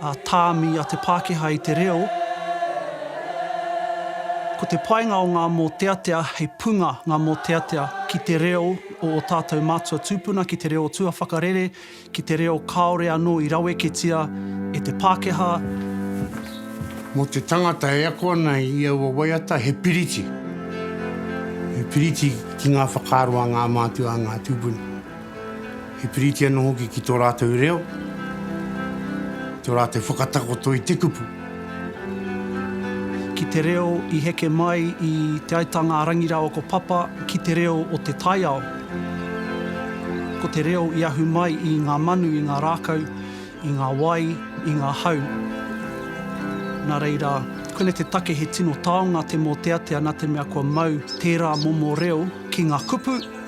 a tāmi a te Pākehā i te reo, ko te painga o ngā mōteatea hei punga ngā mōteatea ki te reo o ō tātou mātua tūpuna, ki te reo tuawhakarere, ki te reo kāore anō i raweketia e te Pākehā. Mō te tangata e ako ana i aua waiata he piriti, he piriti ki ngā whakaaro a ngā mātua, a ngā tūpuna. He piriti anō hoki ki tō rātou reo, ki tō rātou whakatakoto i te kupu. Ki te reo i heke mai i Te Aitanga-a-Rangi rāua ko Papa ki te reo o te taiao. Ko te reo i ahu mai i ngā manu, i ngā rākau, i ngā wai, i ngā hau. Nā reira, koinei te take he tino taonga te mōteatea nā te mea kua mau tērā momo reo ki ngā kupu,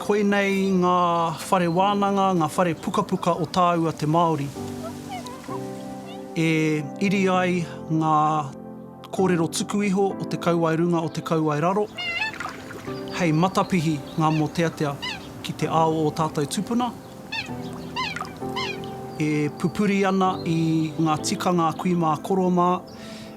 Koinei ngā whare wānanga, ngā whare pukapuka o tāua te Māori e iri ai ngā kōrero tuku iho o te kauae runga, o te kauae raro, hei matapihi ngā mōteatea ki te ao o ō tātou tupuna, e pupuri ana i ngā tikanga a kui mā, koro mā,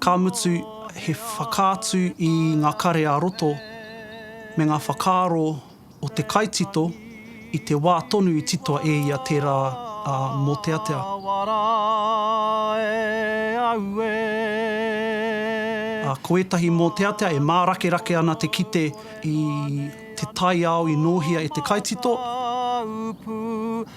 Ka mutu, he whakaatu i ngā kare ā-roto me ngā whakaaro o te kaitito i te wā tonu i titoa e ia tērā mōteatea. Ko ētahi mōteatea e mārakerake ana te kite i te taiao i nōhia e te kaitito.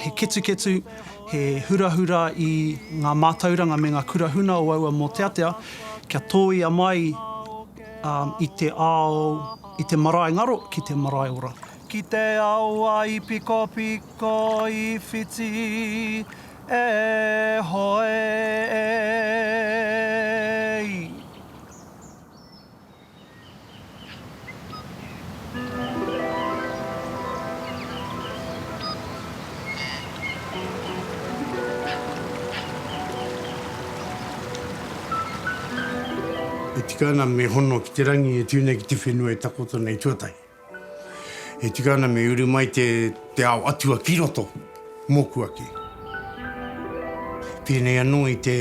He ketuketu, he hurahura i ngā mātauranga me ngā kura huna o aua mōteatea kia tōia mai i te ao, i te marae ngaro ki te marae ora. Ki te awa i pikopiko i whiti e hoe e i. E tika ana me hono ki te rangi e tū nei ki te whenua e takoto nei tuatahi. E tika ana me uru mai te ao atua ki roto, mōku ake. Pēnei anō i te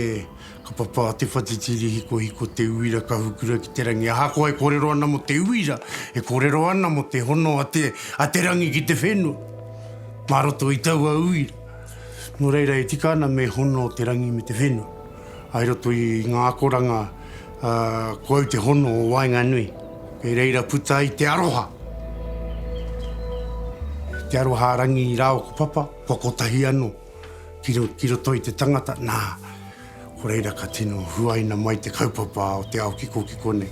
kapa pā te whatitiri hikohiko te uira ka hukura ki te rangi. Ahakoa e kōrero ana mō te uira, e kōrero ana mō te hono a te, a te rangi ki te whenua, mā roto i taua uira. Nō reira e tika ana me hono te rangi me te whenua. I roto i ngā akoranga, ko au te hono o waenganui. Kei reira puta ai te aroha. Te aroha a Rangi rā o ko Papa, kua kotahi anō ki roto i te tangata. Nā, ko reira ka tino huaina mai te kaupapa o te ao kikokiko nei.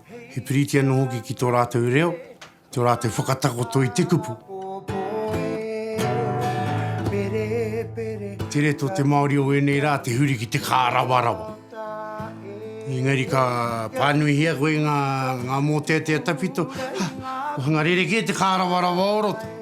he piriti anō hoki ki tō rātou reo, tō rātou whakatakoto i te kupu. Tere tō te Māori o ēnei rā te huri ki te kārawarawa. Engari ka pānuihia koe ngā, ngā mōteatea tawhito, ha, ko hanga rerekē te kārawarawa o roto.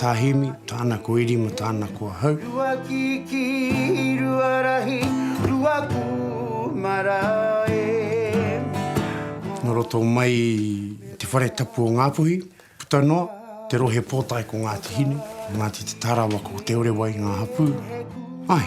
Tā Hemi, tāna ko Eri mā tāna ko ahau. Rua kiki, rua rahi, rua kūmara e. Nō roto mai i te whare tapu o Ngāpuhi, puta noa, te rohe pōtae ko Ngāti Hine, ko Ngāti Te Tarawa, ko Te Orewai ngā hapū. Āe.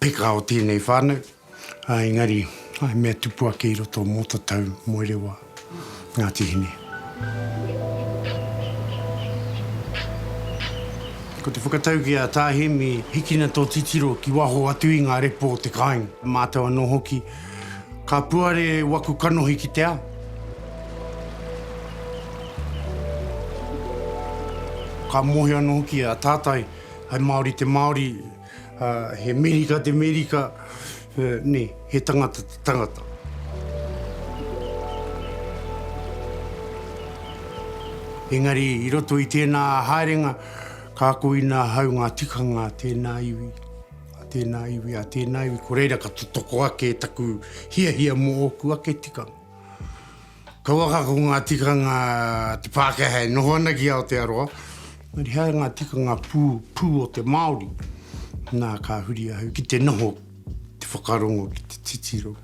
Peka o tēnei whānau, ā, engari he mea tupu ake i roto mō ta tau moe rewa, Ngāti Hine. Ko te whakatau ki a Tā Hēmi, hikina tō titiro ki waho atu i ngā repo o te kāinga. Mātou anō hoki, ka puare waku kanohi ki te ao. Ka mōhio anō hoki a Tātai, hai Māori te Māori. He Merika te Merika, ne, he tangata te tangata. Engari i roto i tēnā haerenga, ka ako ina ahau ngā tikanga a tēnā iwi, a tēnā iwi, a tēnā iwi, ko reira ka totoko ake taku hiahia mō ōku ake tikanga. Kauaka ko ngā tikanga te Pākehā e noho ana ki Aotearoa, engari he aha ngā tikanga pū, pū o te Māori? Nā, ka huri ahau ki te noho, ki te whakarongo, ki te titiro.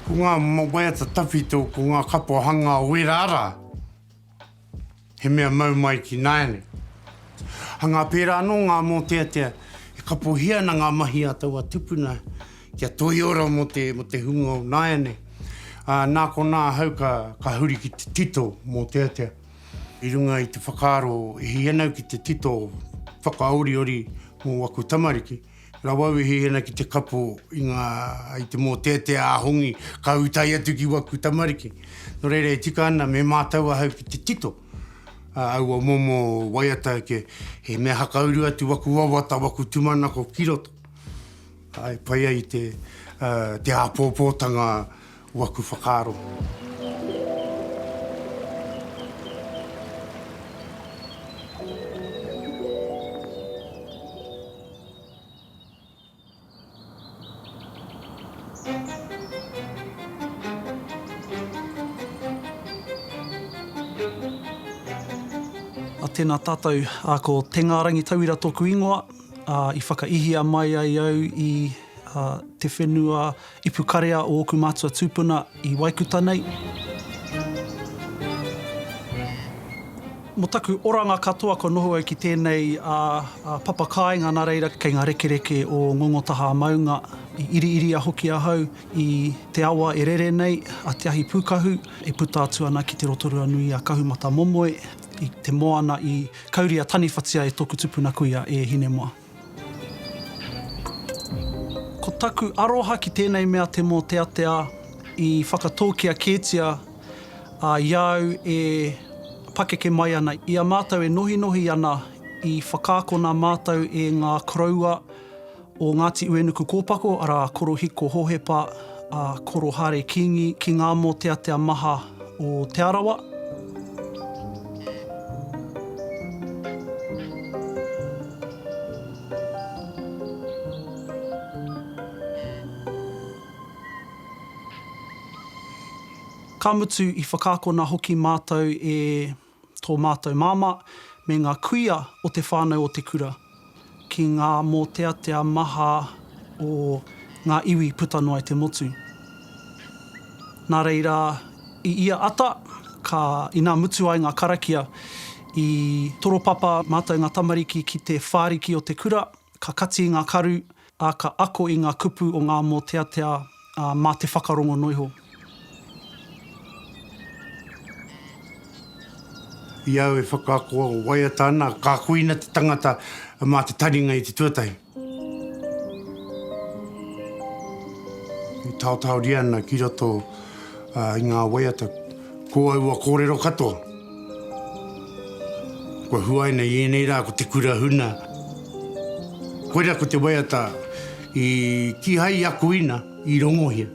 Ko ngā waiata tawhito, ko ngā kapa hanga o ērā rā. He mea mau mai ki nāianei. Hanga pērā anō ngā mōteatea e kapohia ana ngā mahi a taua tupuna kia toiora mō te, mō te hunga o nāianei. Ā, nā konā ahau ka, ka huri ki te tito mōteatea. I runga i te whakaaro e hia nau ki te tito whakaoriori mō aku tamariki, Rawa wehi ena ki te kapo i nga i te moteatea a Hongi ka utai atu ki waku tamariki. No reira e tika ana me mātau ahau ki te tito a aua momo waiata ke he mea hakauru atu waku wawata waku tumanako ki roto. Ae pai ai te te apopotanga Waku whakaaro. Tēnā tātou, ko Te Ngārangi Tauira tōku ingoa, i whakaihia mai ai au i te whenua I pukarea ōku mātua tūpuna i Waikuta nei. Mo taku oranga katoa kua noho au ki tēnei papa kāinga nā reira kei ngā rekereke o Ngongotaha-a-Maunga i iriiria hoki ahau i te awa e rere nei a Te Ahi Pūkahu e puta atu ana ki te Rotorua nui a Kahumatamomoe i te moana i kauria taniwhatia e tōku tupuna kuia e Hinemoa. Ko taku aroha ki tēnei mea te mōteatea i whakatōkia kētia i a au e pakeke mai ana, i a mātou e nohinohi ana i whakaakona mātou e ngā koroua o Ngāti Uenukukōpako, arā, Korohiko Hohepa, Korohare Kingi, ki ngā mōteatea maha. o Te Arawa. Ka mutu, i whakaakona hoki mātou e tō mātou māmā, me ngā kuia o te whānau o te kura, ki ngā mōteatea maha o ngā iwi puta noa i te motu. Nā reira, i ia ata, ka, inā mutu ai ngā karakia, i toropapa mātou ngā tamariki ki te whāriki o te kura, ka kati i ngā karu, ā, ka ako i ngā kupu o ngā mōteatea, ā, mā te whakarongo noa iho. I au e whakaako waiata ana, ka kuina te tangata mā te taringa i te tuatahi. E taotaoria ana ki roto i ngā waiata ko aua kōrero katoa. Kua huaina i ēnei rā ko te kura huna. Koirā ko te waiata i kīhai i akoina, i rongohia.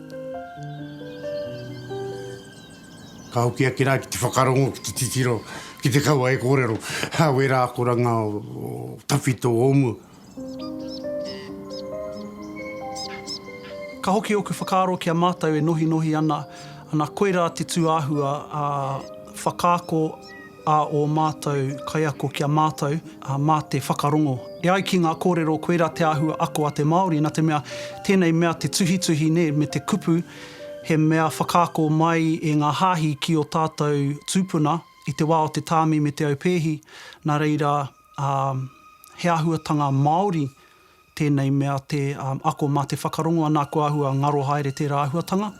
Ka hoki ake rā ki te whakarongo, ki te titiro, ki te kaua e kōrero, wērā akoranga o tawhito o mua. Ka hoki oku whakaaro ki a matou e nohinohi ana, ana koira te tuahua a whakaako a o matou kaiako ki a matou, ma te whakarongo. E ai ki nga korero koira te ahua ako a te Maori na te mea tenei mea te tuhituhi ne me te kupu he mea whakaako mai e nga hahi ki o tatou tupuna i te wa o te tami me te aupēhi na reira ā, he āhuatanga māori tēnei mea te ako mā te whakarongo anā kua āhua ngaro haere tērā āhuatanga,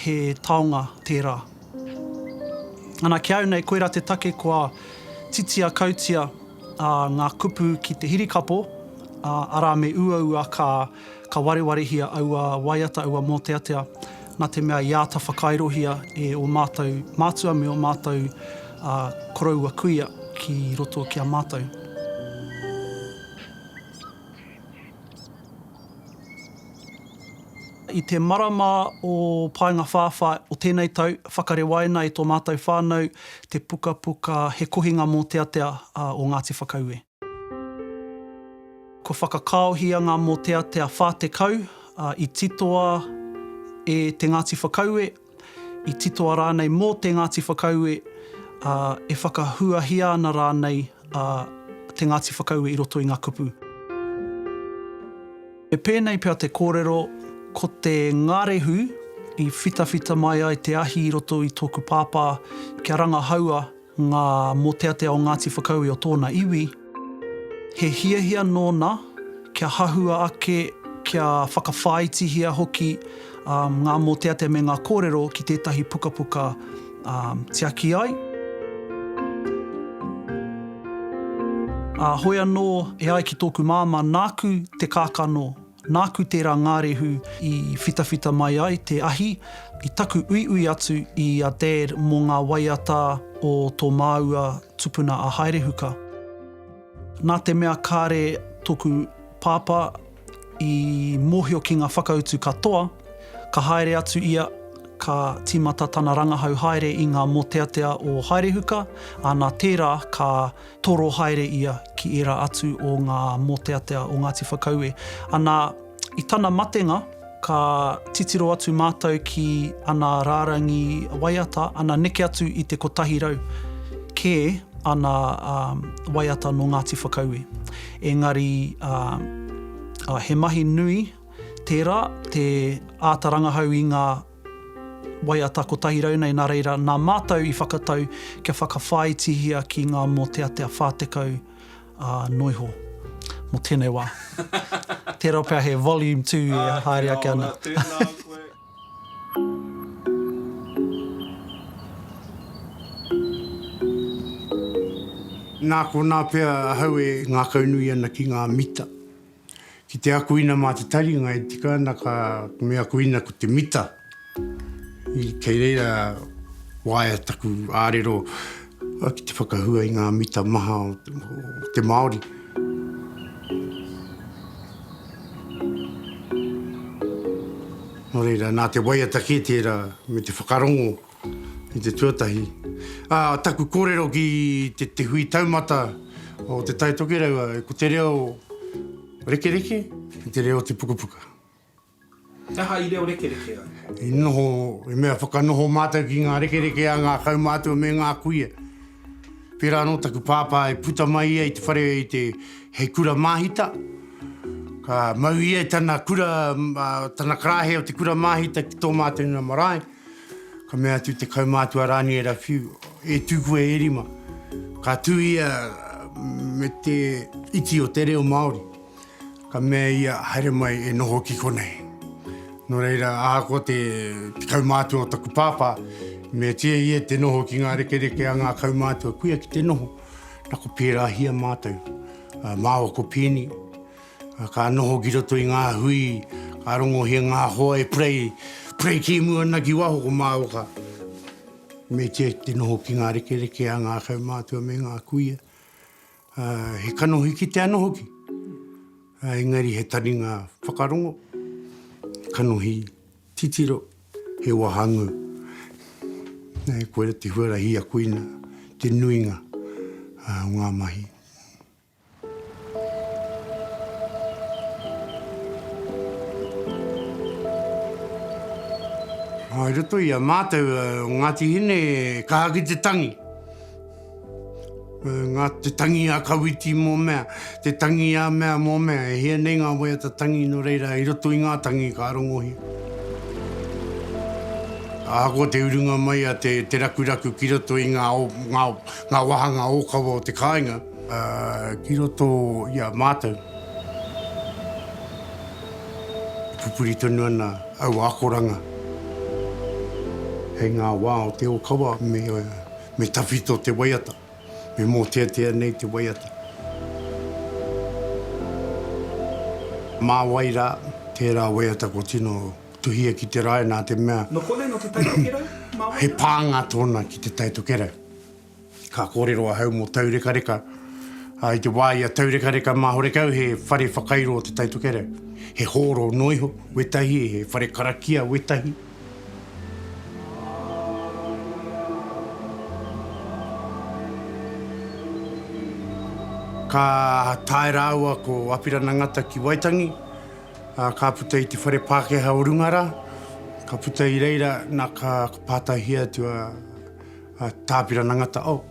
he taonga tērā. Ana, ki a au nei koirā te take kua titia kautia ngā kupu ki te hirikapo, arā me uaua ka. Ka warewarehia aua waiata, aua mōteatea, nā te mea i āta whakairohia e ō mātou mātua me ō mātou koroua kuia ki roto ki a mātou. I te marama o Paengawhāwhā o tēnei tau, whakarewaina e tō mātou whānau te pukapuka He Kohinga Mōteatea o Ngāti Whakaue. Kua whakakāohia ngā mōteatea 40, ā, i titoa e te Ngāti Whakaue, i titoa rānei mō te Ngāti Whakaue, ā, e whakahuahia ana rānei a te Ngāti Whakaue i roto i ngā kupu. He pēnei pea te kōrero, ko te ngarehu i whitawhita mai ai te ahi i roto i tōku pāpā kia rangahaua, Ngā mōteatea o Ngāti Whakaue o tōna iwi, he hiahia nōna kia hahua ake, kia whakawhāitihia hoki ngā mōteatea me ngā kōrero ki tētahi pukapuka tiaki ai. Ā, hoi anō e ai ki tōku māmā, nāku te kākano Nāku tērā ngārehu i whitawhita mai ai te ahi i taku uiui atu i a Dad mō ngā waiata o tō māua tupuna a Haerehuka. Nā te mea kāre tōku pāpā i mōhio ki ngā whakautu katoa, ka haere atu ia, ka tīmata tana rangahau haere i ngā mōteatea o Haerehuka, ā, nā tērā ka toro haere ia ki ērā atu o ngā mōteatea o Ngāti Whakaue. Anā, i tana matenga, ka titiro atu mātou ki ana rārangi waiata, ana neke atu i te kotahi rau kē ana waiata nō Ngāti Whakaue. Engari, he mahi nui tērā te āta rangahau i ngā. Waiata 100 nei nā reira nā mātou i whakatau kia whakawhāitihia ki ngā mōteatea 40 ā nō iho mō tēnei wā. Tērā pea he volume tū e haere ake ana. Āe, tēnā ora, tēnā koe. Nā konā pea ahau e ngākaunui ana ki ngā mita. Ki te akuina mā te taringa e tika ana ka me akuina ko te mita. Kei reira waea taku ārero ki te whakahua i ngā mita maha o te Māori. Nō reira, nā te waiata kē tērā me te whakarongo I te tuatahi, ā, taku kōrero ki te, te hui taumata o Te Tai Tokerau, ko te reo rekereke, te reo te pukapuka. He aha i reo rekereke ai? I noho, i mea whakanoho mātou ki ngā rekereke a ngā kaumātua me ngā kuia. Pērā anō taku pāpā i puta mai ia i te whare i te, hei kura māhita, ka mau ia i tana kura, tana karāhe o te kura māhita ki tō mātou inamarae, Ka mea atu te kaumātua Rani e Rawhiu, E tū koe e rima. Ka tū ia me te iti o te reo Māori. Ka mea ia, Haere mai e noho ki konei. Nō reira, ahakoa te kaumātua o taku pāpā, i meatia ia te noho ki ngā rekereke a ngā kaumātua kuia ki te noho, nā ko pērāhia mātou. Māua ko Peeni. Ka noho ki roto i ngā hui, ka rongohia ngā hoa e pray, pray kēmu ana ki waho ko Māoka. Me kī te noho ki ngā rekereke a ngā kaumātua me ngā kuia. He kanohi ki te ano hoki, engari he taringa whakarongo, kanohi titiro, he wahangū. Koira te huarahi i a koina, te nuinga o ngā mahi. I roto i a mātou o Ngāti Hine kāhaki te tangi. Ngā te tangi a Kawiti mō mea, te tangi a mea mō mea, e hia nei ngā waiata tangi nō reira i roto i ngā tangi ka rongohia. Ahakoa te urunga mai a te rakuraku ki roto i ngā wāhanga ōkawa o te kāinga, Ā, ki roto i a mātou, e pupuri tonu ana aua akoranga hei ngā wā o te ōkawa me, me tawhito te waiata, me mōteatea nei te waiata. Mā wai rā, tērā waiata kua tino tuhia ki te rae nā te mea. Nō konei, nō Te Tai Tokerau, mā wai rā? He pānga tōna ki Te Tai Tokerau. Ka kōrero ahau mō taurekareka, ā, i te wā i a taurekareka mā horekau he whare whakairo te Tai Tokerau, he hōro noa iho wētahi, he whare karakia wētahi. Ka tae rāua ko Apirana Ngata ki Waitangi, ā, ka puta i te whare Pākehā o runga rā, ka puta i reira, nā, ka pātaihia atu a. A Tāpirana Ngata Oh,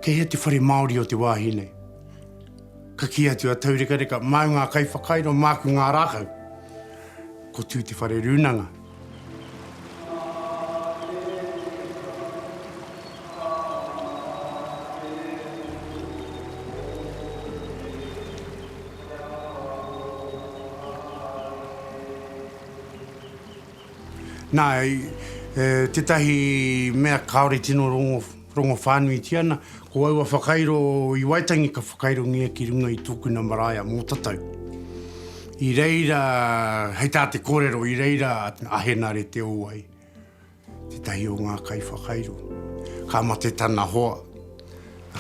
kei hea te whare Māori o te wāhi nei? Ka kī atu a Taurekareka, Māu ngā kaiwhakairo, māku ngā rākau. Ko Tū Te Whare Rūnanga. Nā, tētahi mea kāore tino rongo whānuitia ana, ko aua whakairo i Waitangi ka whakairongia ki runga i tōkuna marae a Mōtatau. I reira, hei tā te kōrero, i reira a Henare Te Owai, tētahi o ngā kaiwhakairo, ka mate tana hoa,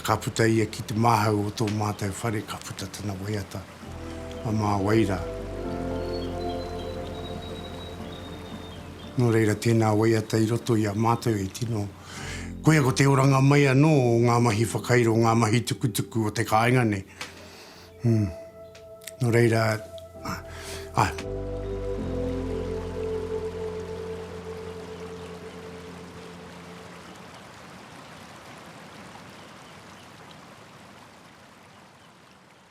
ka puta ia ki te māhau o tō mātou whare, ka puta tana waiata. a Mā Wai rā. Nō reira, tēnā waiata i roto i a mātou e tino, koia ko te oranga mai anō o ngā mahi whakairo, ngā mahi tukutuku o te kāinga nei. Hum. Nō reira, āe.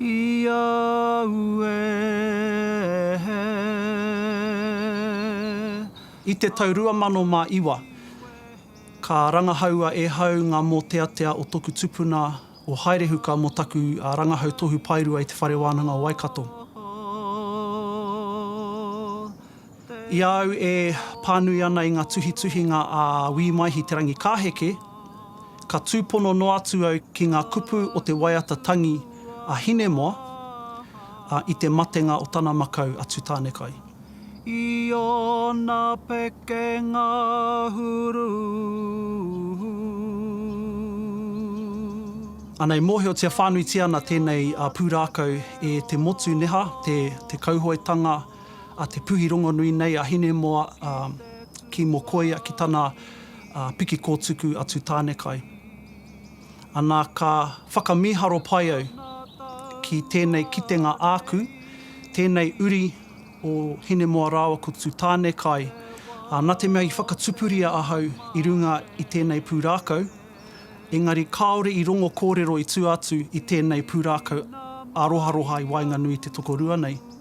i au e. I te tau 2009, ka rangahaua e hau ngā mōteatea o toku tupuna, o Haerehuka mō taku rangahau tohu paerua i Te Whare Wānanga o Waikato. I a au e pānui ana i ngā tuhituhinga a Wī Maihi Te Rangikāheke, ka tūpono noa atu au ki ngā kupu o te waiata tangi a Hinemoa i te matenga o tana makau a Tutanekai. I ōna pekenga huru. Anei, mōhiotia whānuitia ana tēnei pūrākau e te motu neha, te kauhoetanga, a Te Puhi rongonui nei a Hinemoa ki Mokoia ki tana piki kōtuku a Tutanekai. Ana ka whakamīharo pai au ki tēnei kitenga āku, tēnei uri o Hinemoa rāua ko Tutanekai, na te mea i whakatupuria ahau i runga i tēnei pūrākau, engari kāore i rongo kōrero i tua atu i tēnei pūrākau aroharoha i waenganui i te tokorua nei.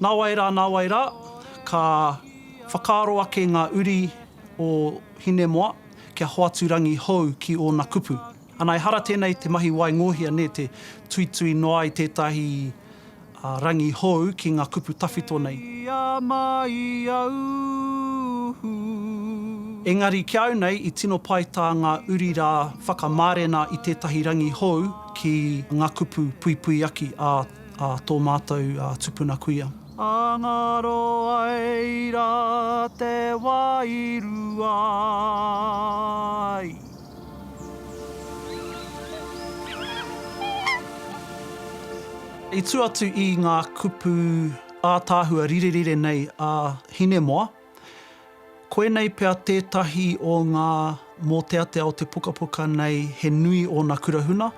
Nāwai rā, nāwai rā, ka whakaaro ake ngā uri o Hinemoa kia hoatu rangi hou ki ōna kupu. Ana, ehara tēnei te mahi waingōhia, nē, te tuitui noa ai tētahi rangi hou ki ngā kupu tawhito nei. Engari ki a au nei, i tino pai tā ngā uri rā whakamārena i tētahi rangi hou ki ngā kupu puipuiaki a a tō mātou tupuna kuia. A ngaro ai rā te wairua i. I tū atu i ngā kupu ātaahua rirerire nei a Hinemoa. Koinei pea tētahi o ngā mōteatea o te pukapuka nei he nui ōna kurahuna.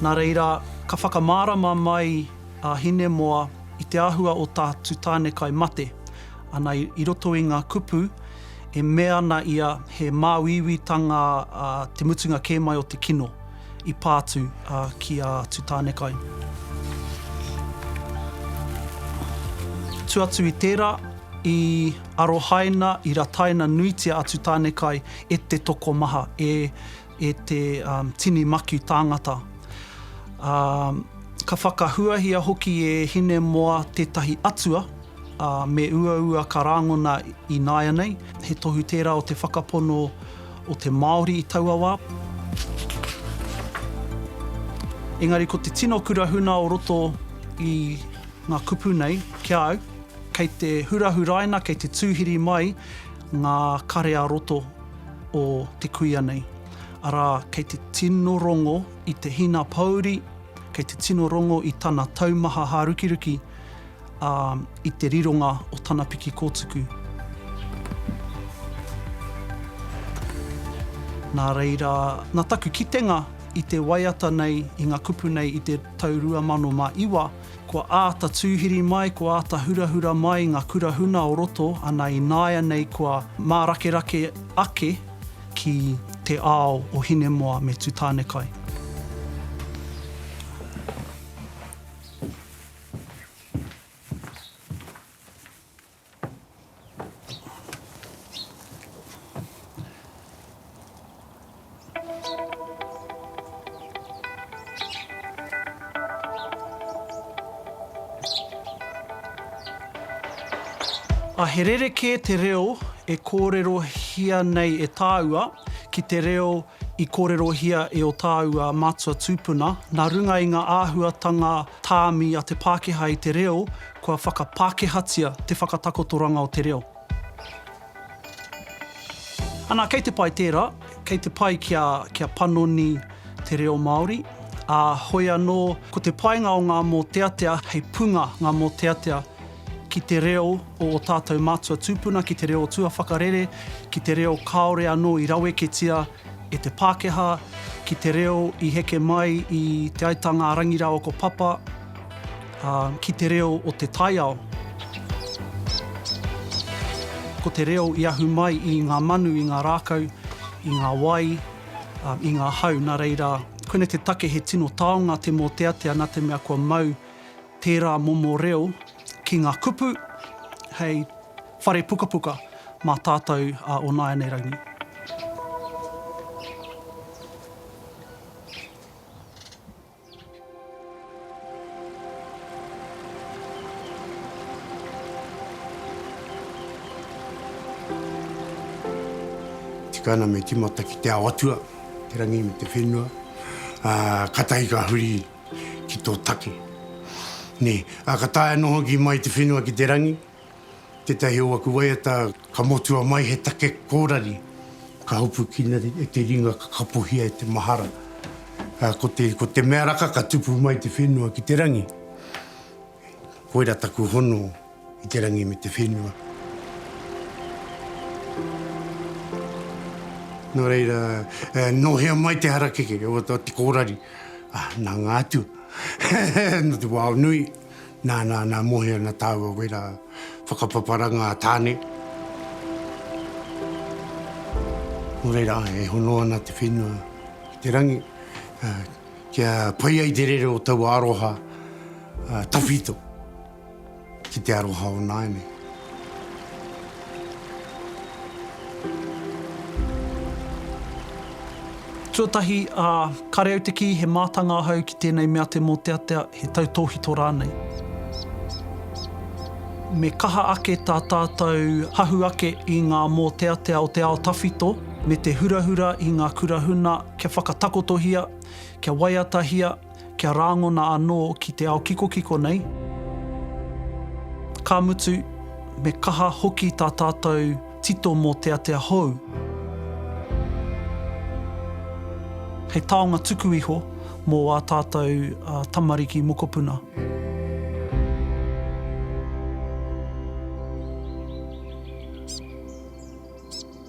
Nā reira, ka whakamārama mai a Hinemoa i te āhua o tā Tutānekai mate ana i roto i ngā kupu e mea ana ia he māuiuitanga te mutunga kē mai o te kino. I pā atu ki a Tutānekai. Atu atu i tērā, i arohaina, i rataina nuitia a Tutānekai e te tokomaha, e, e te tini makiu tāngata. Ā, ka whakahuahia hoki e Hinemoa tētahi atua, ā, me uaua ka rāngona ināianei. He tohu tērā o te whakapono o te Māori i taua wā. Engari ko te tino kura huna o roto i ngā kupu nei ki a au, kei te hurahuraina, kei te tūhiri mai ngā kare a roto o te kuia nei. Arā, kei te tino rongo i te hina pōuri, kei te tino rongo i tana taumaha hārukiruki, ā, i te rironga o tana piki kōtuku. Nā reira, nā taku kitenga i te waiata nei, i ngā kupu nei i te tau 2009, kua āta tūhiri mai, kua āta hurahura mai ngā kura huna o roto, ana i nāianei kua mārakerake ake ki te ao o Hinemoa me Tutanekai. A he rerekē te reo e kōrerohia nei e tāua ki te reo I kōrerohia e ō tāua mātua tūpuna, nā runga i ngā āhuatanga tāmi a te Pākehā i te reo, kua whakapākehātia te whakatakotoranga o te reo. Anā, kei te pai tērā, kei te pai kia, kia panoni te reo Māori, ā, hoi anō, ko te painga o ngā mōteatea, hei punga ngā mōteatea, ki te reo o ō tātou mātua tūpuna, ki te reo tuawhakarere, ki te reo kāore anō i raweketia e te Pākehā, ki te reo i heke mai i Te Aitanga-a-Rangi rāua ko Papa, ā, ki te reo o te taiao. Ko te reo i ahu mai i ngā manu, i ngā rākau, i ngā wai, ā, i ngā hau, nā reira, koinei te take he tino taonga te mōteatea nā te mea kua mau tērā momo reo ki ngā kupu hei whare pukapuka mā tātou o nāianei rangi. Tika ana me timata ki te ao atua, te rangi me te whenua, katahi ka huri ki tō take. Nē, ā, ka taea noa hoki mai te whenua ki te rangi, tētahi o aku waiata ka motua mai he take kōrari, ka hopukina e te ringa ka kapohia e te mahara. Ā, ko te, ko te mea raka ka tupu mai te whenua ki te rangi. Koira taku hono i te rangi me te whenua. Nō reira, nō hea mai te harakeke o te kōrari? Nā ngā atua, nō te wao nui, nā, nā, nā, mohe ana tāua wera whakapaparanga a Tāne. Nō reira, e hono ana te whenua ki te rangi, kia pai ai te rere o taua aroha tawhito ki te aroha o nāianei. Tuatahi, ā, kāre au te kī he mātanga ahau ki tēnei mea te mōteatea, he tautōhito rānei. Me kaha ake tā tātou hahu ake i ngā mōteatea o te ao tawhito, me te hurahura i ngā kura huna kia whakatakotohia, kia waiatahia, kia rāngona anō ki te ao kikokiko nei, ka mutu, me kaha hoki tā tātou tito mōteatea hou. Hei taonga tuku iho mō ā tātou tamariki mokopuna.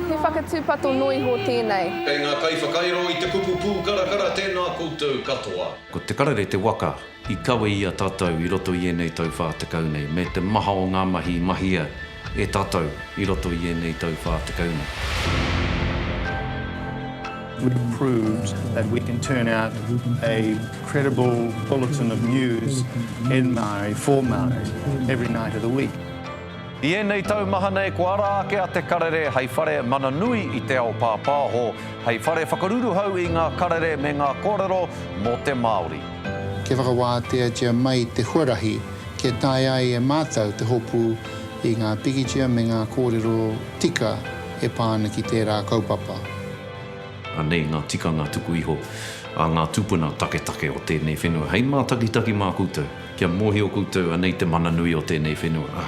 He whakatūpato noa iho tēnei. Kei ngā kaiwhakairo i te kupu pūkarakara tēnā koutou katoa. Ko Te Karere te waka i kawe i a tatou i roto i enei tau wha tekau nei, me te maha o nga mahi i mahia e tatou i roto i enei tau wha tekau nei. We've proved that we can turn out a credible bulletin of news in Maori for Maori every night of the week. I ēnei tau maha nei kua ara ake a Te Karere hei whare mana nui i te ao pāpāho, hei whare whakaruruhau i ngā karere me ngā kōrero mō te Māori. Kia whakawāteatia mai te huarahi kia taea ai e mātou te hopu i ngā pikitia me ngā kōrero tika e pā ana ki tērā kaupapa. Anei ngā tikanga tuku iho a ngā tūpuna taketake o tēnei whenua hei mātakitaki mā koutou. Kia mōhio koutou, anei te mana nui o tēnei whenua.